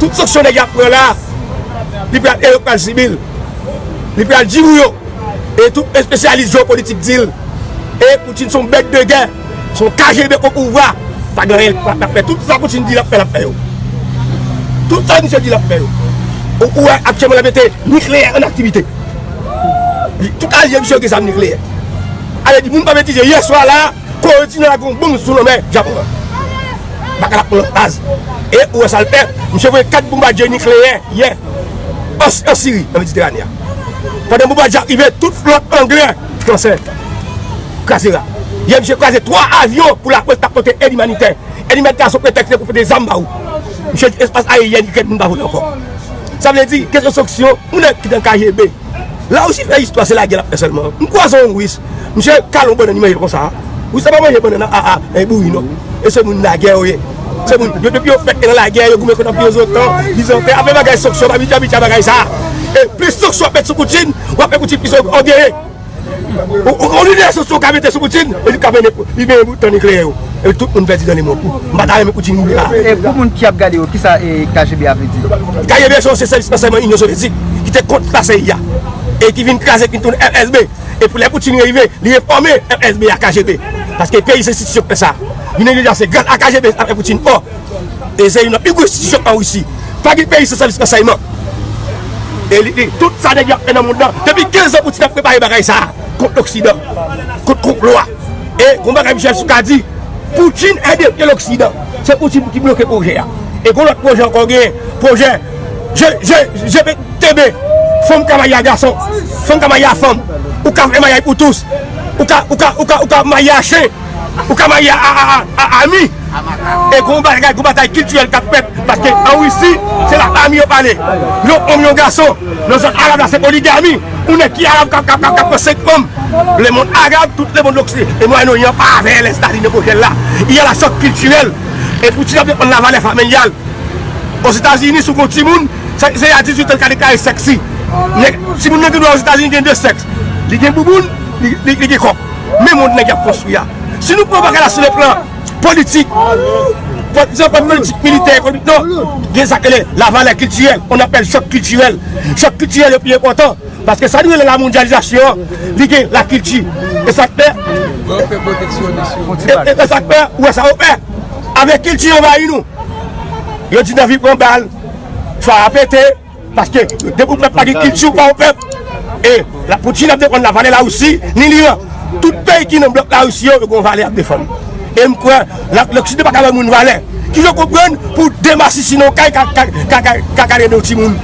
Tout sanksyon nèg la pran la a, li pral e yo k pral sibi l. Li pral di nou yo, e tout espesyalis jewopolitik di l, e Putin s on bèt de gè, s on kgb opouvwa, pa gen anyen l pa ka fè. Tout sa Putin di l ap fè l ap fè yo. Tout sa misye di l ap fè yo. Ou wè aktyèman l ap mete nikleyè an aktivite. Tout alye misye yo gen zam nikleyè. Ale di moun pa betize, yè swa la a, Kore di nò a gen yon bonm sou lanmè Japon an. Baka la pran baz. E ou wè sa l fè? Misye voye 4 bonbadye nikleyè yè an Siri, nan Mediterane a. Pandan bonbadye a ap rive, tout flòt anglè, fransè, kraze ra. Yè misye kraze 3 avyon pou lakwè ki t ap pote èd imanitè. Èd imanitè a se yon pretèks pou pote zam ba ou. Misye di espas ayeryèn Ikrèn moun pa vole ankò. Sa vle di kesyon sanksyon, moun nan ki nan kgb. La Russie fè istwa se lagè lap fè sèlman. M kwaze yon Russe, misye kale yon bannann li manje l konsa. Russe la pa manje bannann an aa e bouri non. E se moun lagè yo ye. Se moun yo depi yo fèt e nan lagè yo goumen kont anpi ozotan, Bizantè, ape bagay sanksyon m abitye abitye a bagay sa. E plis sanksyon ap met sou Poutine, wap fè Poutine plis ògeye. Yon lidè sou sou ka mete sou Putin e li ka mennen li mennen pou tan nikleyè yo e tout moun pèdi nan le mond. M pa ta renmen Putin mouri la. E pou moun ki ap gade yo, kisa KGB a vle di? KGB se yon se sèvis ransèyman Inyon Sovyetik ki te kont la CIA e ki vin kraze ki tounen FSB e pou lè Putin rive li refòme FSB a KGB paske peyi se enstitisyon ki fè sa. Vin envija se gras a KGB sa fè Putin fò. E se youn nan pi gwo enstitisyon an Risi. Pa gen peyi san sèvis ransèyman. E li di, tout sa nèg yo ap fè nan monn nan, depi 15 an Poutin ap prepare bagay sa a kont loksidan, kont konplo a. E gon bagay Michel Soukar di, Poutin e depye loksidan. Se Poutin ki bloke pwojè a. E gon lòt pwojè ankò genyen, pwojè je, je, je pe, tebe, fanm ka marye a gason, fanm ka marye a fanm, ou ka fè maryaj pou tous, ou ka, ou ka, ou ka, ou ka marye a chen. Ou ka marye a ami. E gon bagay, gon batay kiltirèl k ap fèt. Paske an Risi, se la ami yo pale. Yon onm, yon gason. Nan zòn Arab la, se poligami. Yon nèg ki Arab k ap pran senk fanm. Lemonn Arab, tout lemonn Oksi, e Mwayen Oryan pa avè lè Stadin e pwojè l la. Y a la chòk kiltirèl. E Poutin ap defann lavalè familyal. Ozetazini, si w gon timoun, se a dizuitan l ka deklare sèks li. Nèg, timoun nan gen dwa Ozetazini gen de sèks. Li gen bouboun, li gen kòk. Men mond nèg yap konstwi a. Si nou pran bagay la sou le plan politik, sou plan politik militè ekonomik non, gen sa ki rele la valè kiltirèl, on apèl chòk kiltirèl. Chòk kiltirèl yo pi enpòtan, paske sa nou rele la mondyalizasyon an, li gen la kilti. E sa k fè, e sa k fè, ou wè sa yo fè, avèk kilti anvayi nou. Yo di nan vi pran bal, fwa a pete. Paske depi w pèp pa gen kilti w pa yon pèp e Lapoutine ap defann la valè Larisi ni l'Iran tout peyi ki nan blòk Larisi yo yo gen yon valè yap defann e m kwè loksidan pa ka bay moun valè ki yo konprann pou de masisi nan yon kay ka gade de yon timoun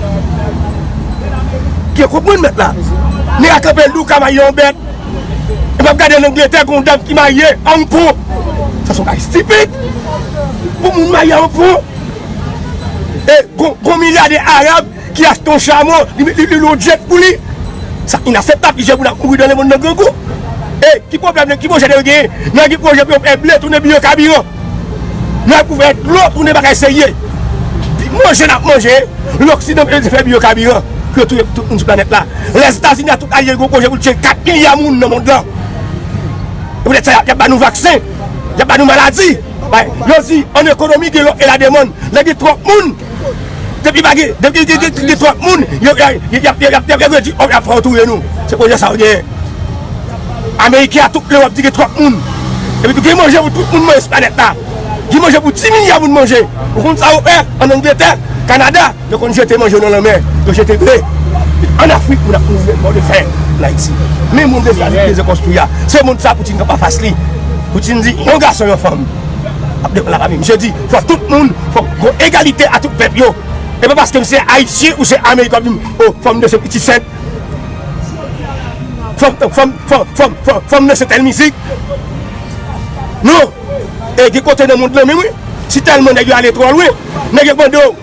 ki yo konprann mèt la nèg a kanpe li ou ka maye yon bèt e m ap gade an Angletè gen yon dam ki maye an pou sa se yon bagay stipid pou moun maye an pou. e gon milyade arab ki achte yon chamo li met li yon jet pou li sa inaseptab ki jen moun ap mouri dan le mond nan grangou e ki pwoblèm nan ki pwojè nan yo genyen nan gen pwojè pou yo fè ble tounen biyo kabiran nan yo pou fè dlo tounen bagay serye pi manje nap manje loksidan pou yo te fè biyo kabiran pou yo touye tout moun sou planèt la lèzetazini a tout alye yo gon pwojè pou yo tiye 4 milya moun nan mond lan e poutèt sa yap ba nou vaksen yap ba nou maladi. Yo di an ekonomi gen lòf e lademann, lè gen twòp moun, depi pa gen, depi gen twòp moun, yo ap redwi òf la, y ap fè yo touye nou. Se pwoblèm sa yo genyen. Ameriken ak tout Lewòp di gen twòp moun. Epi tou gen manje pou tout moun manje sou planèt la. Gen manje pou 10 milya moun manje. Ou konn sa yo fè an Angletè, Kanada? Yo konn jete manje yo nan lanmè, yo jete ble. An Afrik moun ap mouri menm jan de fen an Ayiti. Menm moun ke Etazini te konstwi a, se moun sa Putin kanpe anfas li. Putin di yon gason yon fanm ap defann lapami. Misye di fòk tout moun, fòk gon egalite a tout pèp yo. E pa paske m se Ayisyen ou se Ameriken wap di m o fanm danse pitit fèt. Fanm danse tèl mizik. Non, e gen kote nan mond lan menm wi. Si tèlman nèg yo ale twò lwen, nèg yo mande w.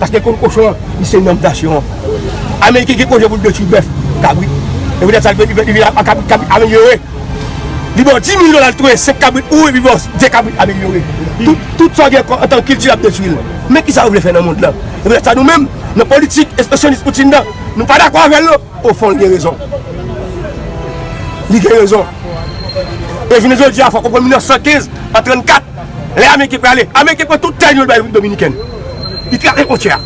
Paske konn kochon an li se nonm nasyon an. Ameriken gen pwojè pou l detwi bèf, kabrit. Se poutèt sa li vin li vin ak kabrit kabrit amelyore. Li ba w 10000 dola l touye 5 kabrit ou epi l ba w 2 kabrit amelyore. Tout tout sa w gen kon antank kilti l ap detwi l. Men kisa yo vle fè nan mond lan. Se poutèt sa nou menm nan politik espesyalist Poutine nan nou pa dakò avè l non. Ofon l gen rezon. Li gen rezon. E jounen jodi a fò w konprann 1915 an 34. Lè ameriken prale, ameriken pran tout tè nou yo bay repiblik dominiken. Li trake fontyè a.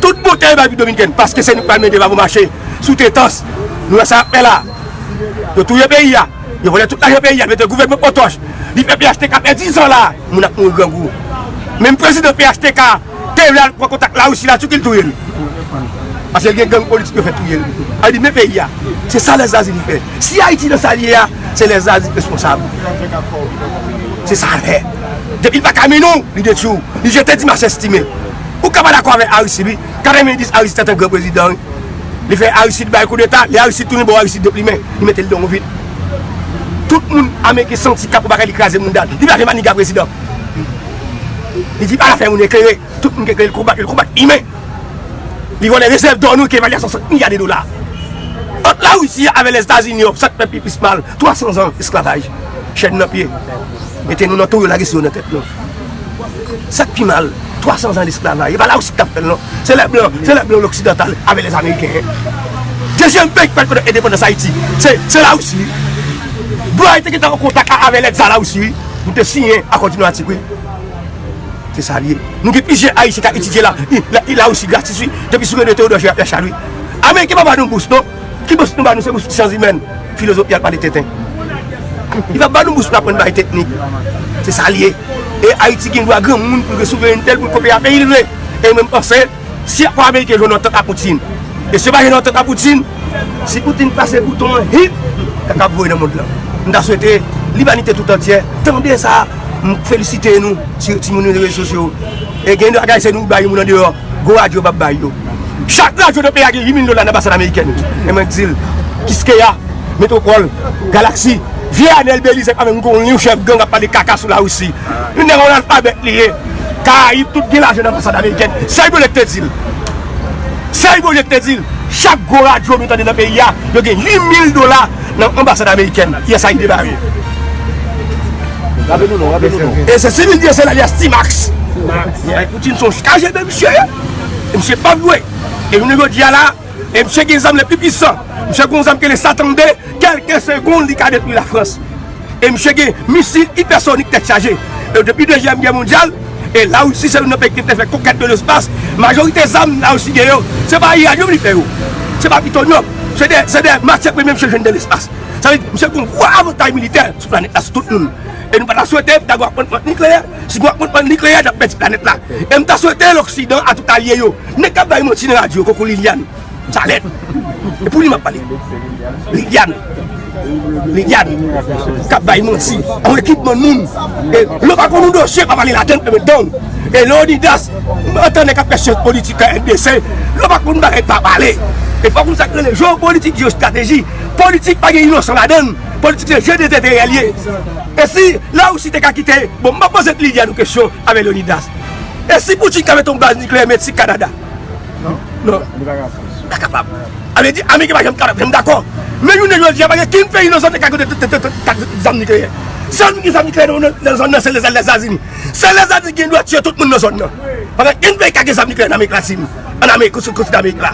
Tout bon tè yo bay repiblik dominiken paske se nou ki pral mete babo mache sou tretans. Nou wè sa yap fè la. Yo touye peyi a. Yo vòlè tout lajan peyi a. Yo mete gouvènman potoch. Li fè phtk pèdi zan la. Moun ap mouri grangou. Menm prezidan phtk. Te vle al pran kontak larisi la tou kin touyel. Paske gen gang politik yo fè touyel. Al di men peyi a. Se sa lèzazili fè. Si ayiti nan sal ye a se lèzazili responsab. Se sa lè. Depil pa kami nou li detwi w. Li jete di machè stime. Ou ka pa dakò avè aristid wi. 90 aristid se te gran prezidan wi. Li fè aristid bay koudeta. Lè aristid tounen bon aristid deplimen. Li mete l don vit. Tout moun ameriken santi kap ou bagay li kraze mounda l. Li pa vle maniga prezidan. Li di ala fè moun eklere, tout moun ki eklere li konbat yo, li konbat imen. Li vòlè rezèv dò nou ki evalyasyon 5 milya de dola. Ant la Russie avè Lèzetazini yo, sa k fè pi plis mal, 300 zan esklavaj, chèn nan pye, mete nou nan tou yo lage sou yo nan tèt nou. Sa k pi mal, 300 zan lesklavay, e pa la Russie ki t ap fè l non, se lè blan, se lè blan loksidantal avè lèzameriken. Dezyèm peyi ki pral konnen endepandans Ayiti, se la Russie wi. Blan yo te gentan an kontak avè lèt za la Russie wi. Nou te siyen akò diplomatik wi. Se sa li ye. Nou gen plizyè ayisyen kap etidye la i la russie gratis wi. Depi sou rele Theodore Gerard Yachad wi. Ameriken pa ba nou bous non. Ki bous nou ba nou se bous syans imèn. Filozof yal pale tenten. Li pap ba nou bous pou aprann bay teknik. Se sa li ye. E ayiti gen dwa granmoun pou l gen souverenitel pou l kopye a peyi l vle. E yo menm panse. Si akò ameriken jwenn antant ak Putin e si yo pa jwenn antant ak Putin, si Putin pase bouton an hit, kaka ap voye nan mond lan. M ta swete limanite tout antyè tande sa, m felisite nou ti timoun yo nan rezo sosyo yo. E gen de bagay se nou ki bay moun andeyò, gwo radyo pap bay yo. Chak radyo nan peyi a gen 8 mil dola nan anbasad amerikèn. E mwen k di l, Kiskeya, Metropole, Galaxy, vye Anel Belizaire pa menm konn li yon chèf gang ap pale kaka sou la Russie. Yon nèg yon alfabèt li ye. Karayib tout gen lajan nan anbasad amerikèn. Sèl Bondye k te di l. Sèl Bondye k te di l. Chak gwo radyo nou tande nan peyi a, yo gen 8000 dola nan anbasad amerikèn. Yè sa y debare. Raple nou non, raple nou non. E se sivil di e se l alyas Ti Max. Bay Poutine s on kgb misye ye. E misye pap jwe. E jounen jodi a la, e misye gen zam le pi pwisan. Misye gen yon zam ki rele Satan 2, kelke segonn li ka detwi Lafrans. e misye gen misil ipèsonik tèt chaje e depi dezyèm gè mondyal e larisi se youn nan peyi ki te fè konkèt de lespas majorite zam larisi gen yo se pa iranyòm li fè yo se pa plitonyòm se de se de matyè premye misye jwenn de lespas sa vle di misye gen yon gwo avantay militè sou planèt la sou tout moun e nou pa ta swete dago ap pran nikleyè si nou ap pran nikleyè n ap pèdi planèt la e m ta swete loksidan a tout alye yo nèg k ap bay manti nan radyo koko liliane. Janet! E pou li map pale. Liliane! Liliane! Kap bay manti. Yon ekip moun moun. E lò pa konn yon dosye pa pale ladan l e met dan w. E Leonidas! M antan nèg ap fè syans politik nan RDC. Lò pa konn bagay pa pale. E fòk nou sa k rele jeopolitik, jeostrateji. Politik pa gen inosan ladan l. Politik se je dezenterè l ye. E si Larisi te ka kite. Bon m pa poze Liliane yon kesyon avè Leonidas. E si Poutine ka mete yon baz nikleyè Meksik, Kanada. Non, nou pa kapab. Nou pa kapab. A vle di, Ameriken pa janm kapab, janm dakò. Men jounen jodi a, pa gen kenn peyi nan zòn nan ki ka gen de zam nikleyè. Sèl moun ki gen zam nikleyè nan zòn nan, se Lèzetazini. Sèl Lèzetazini ki gen dwa tiye tout moun nan zòn nan. Pa gen kenn peyi ki ka gen zam nikleyè nan Amerik Latin, an Amerik, sou kontinan Amerik la.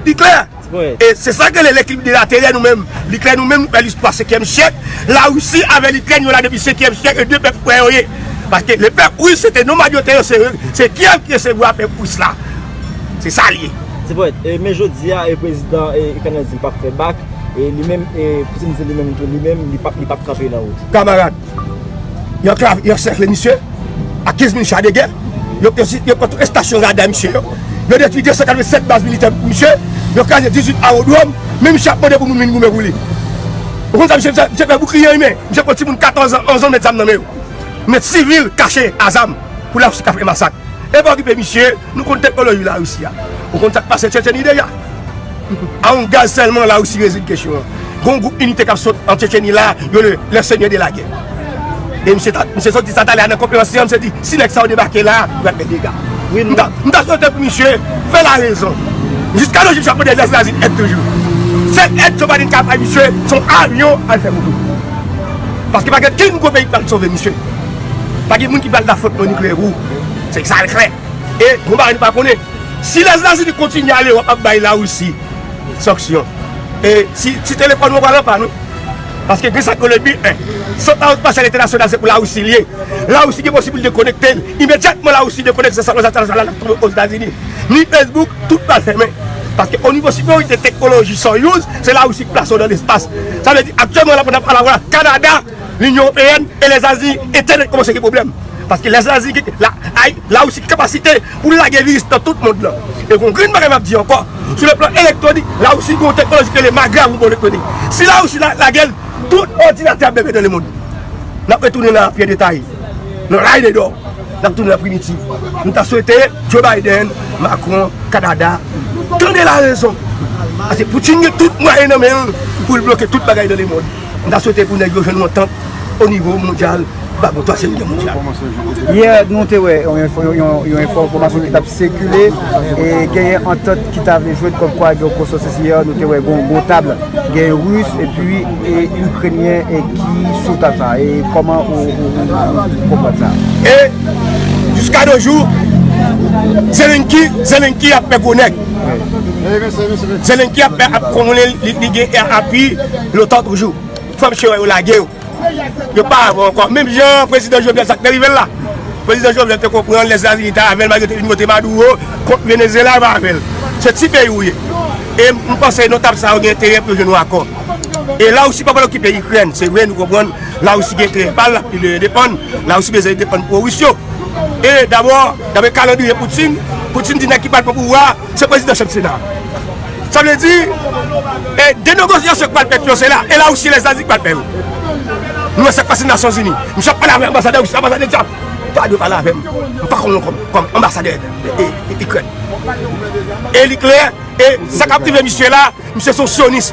Li klè? E se sa k rele lekilib de laterè nou menm. Li klè nou menm nou fè listwa senkyèm syèk, Larisi avè Likrèn yo la depi senkyèm syèk e 2 pèp frè yo ye. Paske le pèp Ris se te nomad yo te yo se Kyèv ki resevwa pèp Ris la. Se sa l ye. Ti poèt, e men jodi a e prezidan e Ikrèn nan di l pap fè bak e li menm e Poutin di li menm tou li menm li pap li pap kanpe nan wout. Kamarad, Yo anklave, yo ansèkle misye ak 15 mil cha de gè. Yo pran tout estasyon rada misye yo. Yo detwi 287 baz militè misye. Yo kraze 18 awodwòm. Men misye ap mande pou moun vin goumen pou li. Ou konn sa misye fè? Misye pran boukliye li men. Misye pran timoun 14 an, 11 an met zam nan men yo. Met sivil kache a zam pou Larisi ka fè masak. Epa okipe misye, nou konn teknoloji Larisi a. Ou konn sa k pase Tchetcheni deja. Arm gaz sèlman la Russie rezoud kesyon an. Gon gwoup inite kap sot an Tchetcheni la yo rele les seigneurs de la guerre. E misye ta, misye sòti sa talè a nan konferans li an misye di si nèg sa yo debake la yo pral fè dega. M ta, m ta swete pou misye fè la rezon. Jiska nos jours chak modèl zazz la di èd toujou. Sèl èd Joe Biden ka bay misye se yon avyon al fè vodou. Paske pa gen kenn gwo peyi k pral sove misye. Pa gen moun ki pral dafotman nikleyè pou ou. Se sa l klè. E yon bagay nou pa konnen, si Lèzetazini kontinye ale wap ap bay Larisi sanksyon, e ti telefòn ou pral an pàn wi. Paske gen sa k rele bil 1. San pa otorizasyon entènasyonal se pou Larisi li ye. Larisi gen posiblite konekte l. Imedyatman Larisi dekonekte sa konsa telefòn la ap tonbe Ozetazini. Ni Facebook, tout pral fèmen. Paske o nivo siperyorite teknoloji Soyuz, se Larisi ki plase yo nan lespas. Sa vle di aktyèlman la pandan nap pale a la, Kanada, Linyon Ewopeyèn e Lèzazi entènèt kòmanse gen pwoblèm paske Lèzazi gen Larisi gen kapasite pou l lage viris nan tout mond lan e gon grenn bagay m ap di ankò sou le plan elektwonik Larisi gen yon teknoloji ki rele Magra pou bon elektwonik si Larisi lage l tout òdinatè ap bebe nan lemond n ap retounen nan apye detay nan lay de dò n ap tounen nan primitiv m ta swete Joe Biden Macron Kanada tande larezon paske Poutine gen tout mwayen nan men l pou l bloke tout bagay nan lemond. M ta swete pou nèg yo jwenn yon antant o nivo mondyal ba bon twazyèm gè mondyal. Yè nou te wè yon enfòmasyon ki t ap sikile e genyen antant ki ta vle jwenn kòmkwa gen yon konsantris yè nou te wè gen yon gwo tab gen Ris epi Ikrenyen ki sou tab sa e kòman ou konprann sa? E jiska de jou Zelenki ap fè gwo nèg. Zelensky ap pwouve li gen api lotan toujou. Fò misye wè yo lage yo. Yo pa avè ankò. Menm jan prezidan Jovenel sa k te rive l la. Prezidan Jovenel te konprann lè Etazini ta avè l malgre yo te vin vote Maduro kont Venezyela yo pa avè l. Se ti peyi ou ye. E m panse nan tab sa yo gen enterè pou yo jwenn yon akò. E Lawousi pa pral okipe Ikrèn. Se vre nou konprann Lawousi gen enterè pa l, l ap pi de endepann. Lawousi bezwen endepann pwo-ris yo. E dabò, daprè kalandriye Putin, Putin di nèg ki pral pran pouvwa a, se prezidan chanm sena a. Sa vle di, de negosyasyon ki pral fèt yo, se la, e Lawousi e Lèzazi ki pral fè yo. Nou wè sa k pase nan Nasyonzini. Misye ap pale avèk anbasadè Risi, anbasadè di a, pa dwe pale avè m, m pa konn ou kòm anbasadè Ikrèn. E li klè, e sa k ap rive misye la, misye se yon syonis,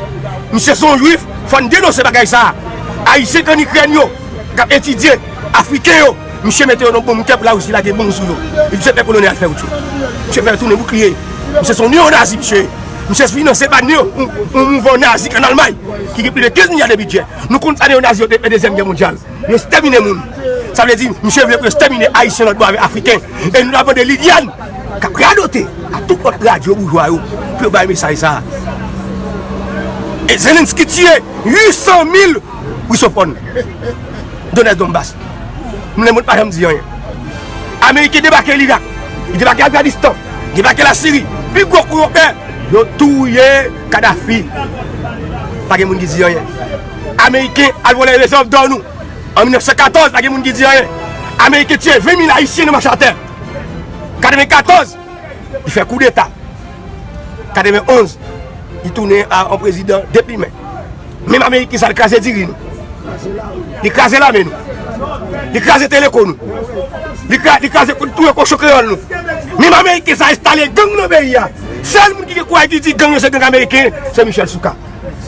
misye se yon jwif, fò n denonse bagay sa a. Ayisyen k ann Ikrèn yo. kap etidye afriken yo misye mete yo nan bon kep la russie lage bon sou yo li misye fè kolone al fè rout yo misye fè tounen boukliye yo misye son neo nazi misye ye misye finanse pa neo yon mouvan nazi an almay ki gen pli de 15 milya de bidjè nou konn sa neo nazi yo te fè dezyèm gè mondyal yo stèmine moun sa vle di misye vle pou yo stèmine ayisyen lòt bò avèk afriken e nou la vande liliann kap radote ak tout lòt radyo boujwa yo pou yo bay mesaj sa e zelenski tiye 800 mil Russophone, Donès Donbas. M Lemond pa janm di anyen. Ameriken debake Lira, yo debake Afganistan, yo debake Lasiri, pi gwo kou yo fè, yo touye Kadafi. Pa gen moun ki di anyen. Ameriken al vòlè rezèv dò nou an 1914, pa gen moun ki di anyen. Ameriken tiye 20 mil Ayisyen nan machatè 94. li fè koudeta 91 li tounen an prezidan depi men menm amerik ki sa li kraze diri nou li kraze lame nou li kraze teleko nou li kraze tou e kochon kreyol nou menm amerik ki sa estale gang nan beyi a sel moun ki gen kouay di di gang yo se gang amerik se michel souka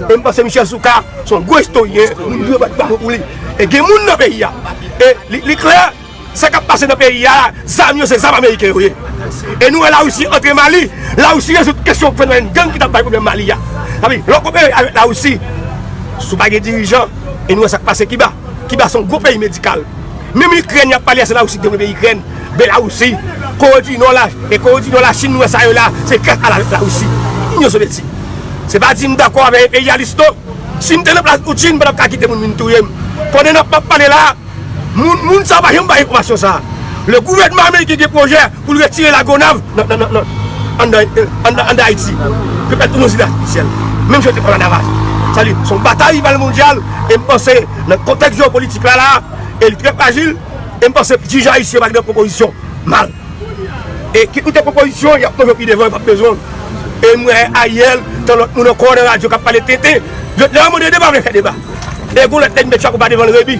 e mwen se michel souka son gwo istoryen e gen moun nan beyi a li kreye Sa kap pase nan peyi a la, zam yo se zam ameriken yo ye. E nou wè la Russie antre Mali, la Russie rezoud kesyon fenomèn gang ki tap bay pwoblèm Mali a. Sa vle di, lè w kopere avèk la Russie, si w pa gen dirijan, e nou wè sak pase Kiba, Kiba se yon gwo peyi medikal. Menm Ikrèn yap pale a se la Russie ki devlope Ikrèn, Belarusi, Kore di Nò la, e Kore di Nò, la Chine nou wè sa yo la, se gras a la Russie, Inyon Sovyeti. Se pa di m dakò avè enperyalis non, si m te nan plas Putin m pa tap ka kite moun vin touye m. Konnen nan map pale la a. Moun sa pa janm bay enfòmasyon sa. Le gouvènman ameriken gen pwojè pou l retire La Gonave anndan Ayiti. Yo pral tounen zile atifisyèl. Menm jan yo te pran Lavalas. Sa vle di se yon batay rival mondyal e m panse nan kontèks jewopolitik la la a, e li trè frajil e m panse dirijan ayisyen pa gen pwopozisyon mal. E ki kote pwopozisyon yap poze pi devan yo pap bezwen l. E m wè Ariel tan lòt moun ankò nan radyo kap pale tenten. Lòt la mande deba vle fè deba. E gon lòt nèg met chapo pa devan l Rebi.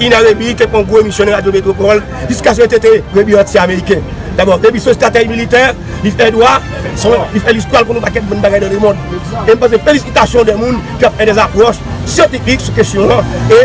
Ina Rebi te pran gwo emisyon nan radyo Metropole jiska se yo tete Rebi anti ameriken. Dabò Rebi se yon stratèj militè, li fè dwa, li fè listwa, l konnen yon pakèt bon bagay nan lemond. E m panse felisitasyon de moun ki ap fè dè zapròch syantifik sou kesyon an. E.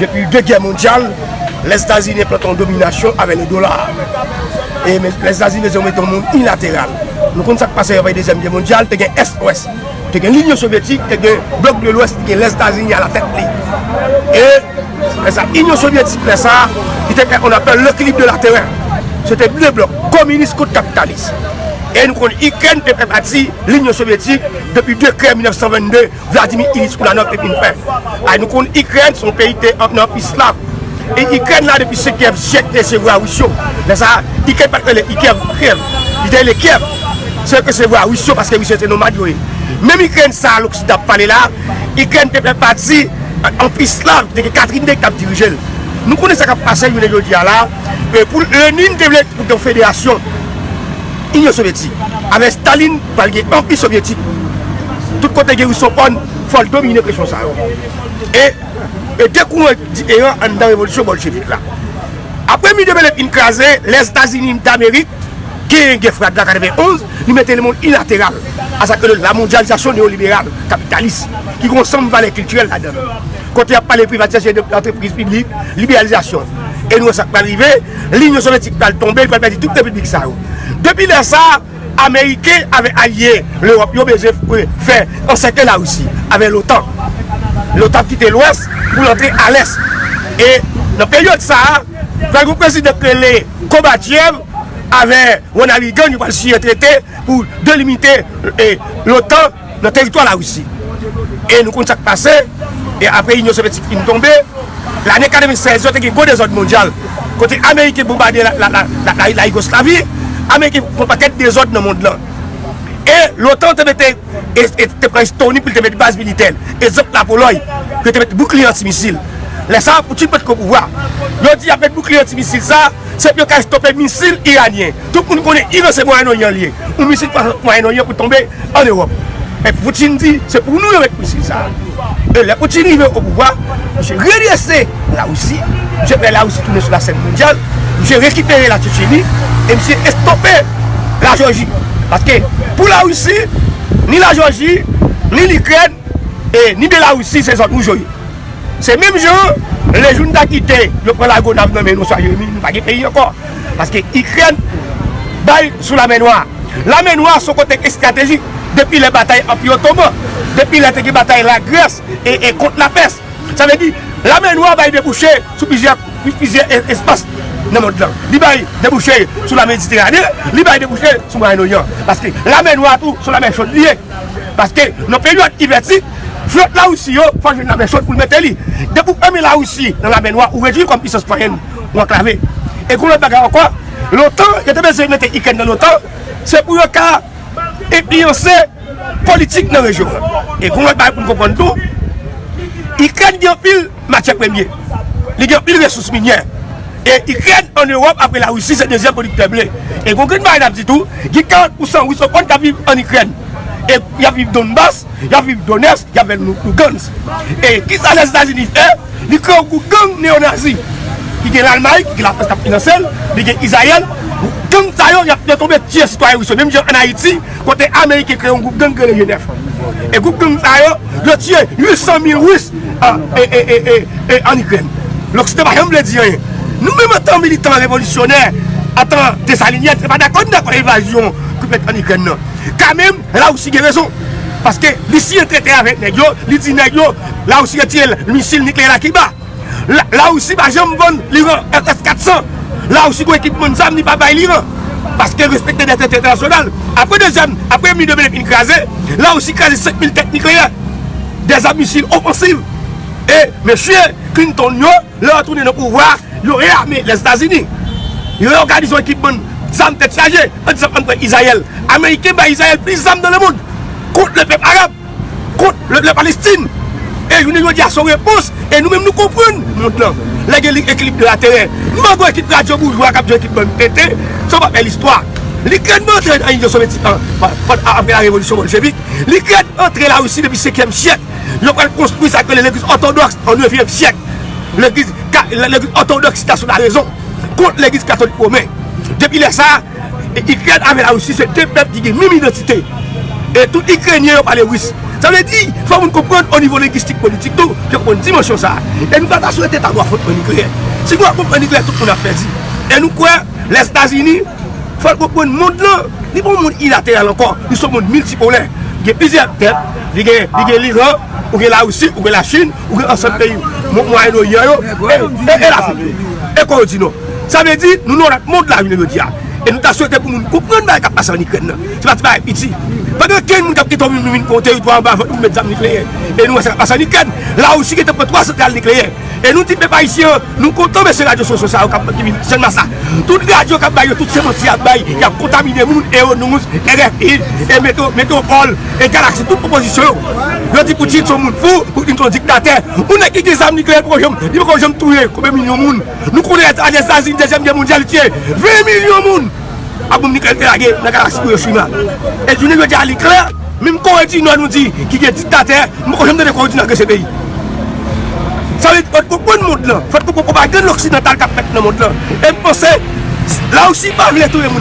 Depi de gè mondyal, Lèzetazini enplante yon dominasyon avè le dola. E Lèzetazini vle di yo mete yon moun ilateral. Nou konn sak pase apre dezyèm gè mondyal, te gen Est Ouest. Te gen Linyon Sovyetik, te gen blok de Lwès ki gen Lèzetazini a la tèt li. E lè sa Inyon Sovyetik lè sa, li te fè on apèl lekilib de la terè. Se te de blok, kominis kont kapitalis. E nou konn Ikrèn te fè pati Linyon Sovyetik depi de krè 1922. Vladimir Ilyich Ulanov epi nou fè Ay nou konn Ikrèn son peyi te anpn anpi slav e Ikrèn la depi se Kyèv Jèk te se vwa Ris yo lè sa a Ikrèn pat rele Ikyèv ou Kyèv li te rele Kyèv se ke se vwa Ris yo paske Ris yo se nomad yo ye menm Ikrèn sa a loksidan ap pale la a Ikrèn te fè pati anpi slav te gen Katrin de ki tap dirije l nou konnen sa kap pase jounen jodi a la e pou Lenin te vle pou te yon federasyon Inyon Sovyetik avè Stalin Pral gen anpi sovyetik. Tout kote gen rus son on fòl domine presyon sa yo. E e de kouran diferan anndan revolisyon bolchevik la. Apre mi de Bèlen fin kraze, Lèzetazini Damerik genyen gè frad la 91, li mete lemonn ilateral a sa k rele lamondyalizasyon neyoliberal kapitalis ki gen ansanm valè kiltirèl ladan l. Kote y ap pale privatizasyon de antrepriz piblik, liberalizasyon. E nou wè sa k pral rive, linyon sovyetik pral tonbe, li pral pèdi tout repiblik sa yo. Depi lè sa. Ameriken avè alye Lewòp yo bezwen fè ansèkle Larisi avè lotan. Lotan ap kite lwès pou l antre alès. E nan peryòd sa a, pral gen prezidan k rele Kobachev avè Ronald Reagan yo pral siyen trete pou delimite lotan. nan teritwa Larisi. E nou konn sa k pase, e apre Inyon Sovyetik fin tonbe, lane 96 yo te gen gwo dezòd mondyal, kote Ameriken bonbade Layigoslavi, Ameriken fè yon pakèt dezòd nan mond lan. E lotan te mete, e te pran Estoni pou l te met baz militè l, e zòt Lapolòy, pou yo te met boukliye anti-misil. Lè sa a, Putin pa t ko pouvwa. Yo di y ap met boukliye anti-misil sa a, se pou yo ka estope misil iranyen. Tout moun konnen Iran se Mwayen Oryan li ye, yon misil pa rantre Mwayen Oryan pou l tonbe an Ewòp. Men Putin di se pou nou yo met misil sa a. E lè Putin rive o pouvwa, misye redrese Larisi, misye fè Larisi tounen sou lasèn mondyal, misye rekipere La Tchetcheni e misye estope La Jòji. Paske pou Larisi, ni La Jòji, ni Likrèn e ni Belarisi se zòn wouj yo ye. Se menm jan an, lè joun ta kite yo pran Lagonav nan men nou oswa Jeremi, nou pa gen peyi ankò. Paske Ikrèn bay sou Lamè Nwa a. Lamè Nwa a se yon kote estratejik depi lè batay Anpi Otoman, depi lè te gen batay Lagrès e kont Lapès. Sa vle di, Lamè Nwa a bay debouche sou plizyè espas nan mond lan. Li bay debouche sou La Mediterane, li bay debouche sou Mwayen Oryan. Paske Lamè Nwa a tou se yon lamè chod li ye. Paske nan peryòd ivètik, flòt Larisi yo fòk jwenn lamè chod pou l mete li. Depi w fèmen Larisi nan Lamè Nwa, ou redui l kòm pisans mwayenn. pou anklave. E kou lòt bagay ankò, lotan, yo te bezwen mete Ikrèn nan lotan, se pou yo ka enfliyanse politik nan rejyon an. E kou lòt bagay pou n konprann tou, Ikrèn gen anpil matyè premye, li gen anpil resous minyè. E Ikrèn an Ewòp apre Larisi se dezyèm pwodiktè ble. E kou grenn bagay n ap di tou, gen 40 pousan Ris okonn k ap viv an Ikrèn, e y ap viv Donbas. Yap viv Donetsk, yap vinn Lugansk. E kisa Lèzetazini fè? Li kreye yon gwoup gang neonazi ki gen Lalmay, ki gen Lafrans kap finanse l, li gen Izrayèl. Gang sa yo yap detonbe tiye sitwayen Ris yo menm jan an Ayiti kote Ameriken kreye yon gwoup gang ki rele Jenèf. E gwoup gang sa yo, yo tiye 800 mil Ris an Ikrèn. Loksidan pa janm vle di anyen. Nou menm antan militan revolisyonè, antan Desalinyèn, se pa dakò nou dakò evazyon ki fèt an Ikrèn nan. Kanmenm. La Russie gen rezon paske li siyen trete avek neg yo li di neg yo la Russie retire misil nikleyè la Kiba la Russie pa janm vann liran FF 400 la Russie gon ekipman zam li pa bay liran paske respekte dèt entènasyonal apre dezyèm apre mi de mil fin kraze la Russie kraze 5 mil tèt nikleyè dèzam misil ofansiv e mesye Clinton yo. Lè yo tounen nan pouvwa a, yo reyame Lèzetazini. Yo òganize yon ekip bann zam tèt chaje an disan ann pran Izrayèl. Ameriken bay Izrayèl plis zam nan lemond kont lè pèp arab, kont lè Palestin. E jounen jodi a se yon repons e nou menm nou konprann mond lan. Lè gen ekilib de laterè, mango ekip radyo boujwa k ap jwe ekip bann tenten, se yon papè listwa. Likrèn pa antre nan Inyon Sovyetik an apre la Revolisyon Boljevik. Likrèn antre Larisi depi sekyèm syèk. Yo pral konstwi sa yo rele legliz òtodòks o nevyèm syèk. Legliz òtodòks si ta sou larezon kont legliz katolik women. Depi lè sa a, Ikrèn avè Larisi se de pèp ki gen menm idantite. E tout Ikrenyen yo pale ris. Sa vle di, fò moun konprann o nivo lengistik politik tou, yo konprann dimansyon sa a. E nou pa ta swete ta gwo afwontman nikleyè. Si gwo afwontman nikleyè tout moun ap pèdi. E nou kwè Lèzetazini. Fòl konprann mond lan, li pa yon mond ilateral ankò, li son mond miltipolè. Gen plizyè tèt, li gen li gen l'Iran, ou gen la Russie, ou gen la Chine, ou gen ansanm peyi Mwayen Oryan yo, e Lafrik tou. E Kore di Nò. Sa vle di, nou nan yon lòt mond la jounen jodi a. E nou ta swete pou moun konprann bagay kap pase an Ikrèn nan. Se pa ti bagay piti. Pa gen okenn moun kap kite yon moun vin pran yon teritwa anba vant nou pou met zam nikleyè. E nou wè sa kap pase an Ikrèn. La Russie gentan pran 3 santral nikleyè. E nou di pèp ayisyen an, nou kontan mesye radyo sosyo sa yo kap ki vin channmas la. Tout radyo kap bay yo tout se manti yap bay, yap kontamine moun eo news, RFI, e meto metropol, e galaxy tout opozisyon yo. Yo di Poutine son moun fou, Poutine son diktatè. Yon nèg ki gen zam nikleyè li poko janm li poko janm touye konbyen milyon moun. Nou konnen a lèzazini dezyèm gè mondyal li tiye 20 milyon moun. ak bonm niklèk te lage nan galaksi Iwoshima. E jounen jodi a li klè, menm Kore di Nò nou di ki gen diktatè, m poko janm tande Kore di Nò gen se peyi. Sa vle di fòt konprann mond lan, fòt konprann pwopagann loksidantal k ap fèt nan mond lan. E m panse Lawousi pa vle touye moun.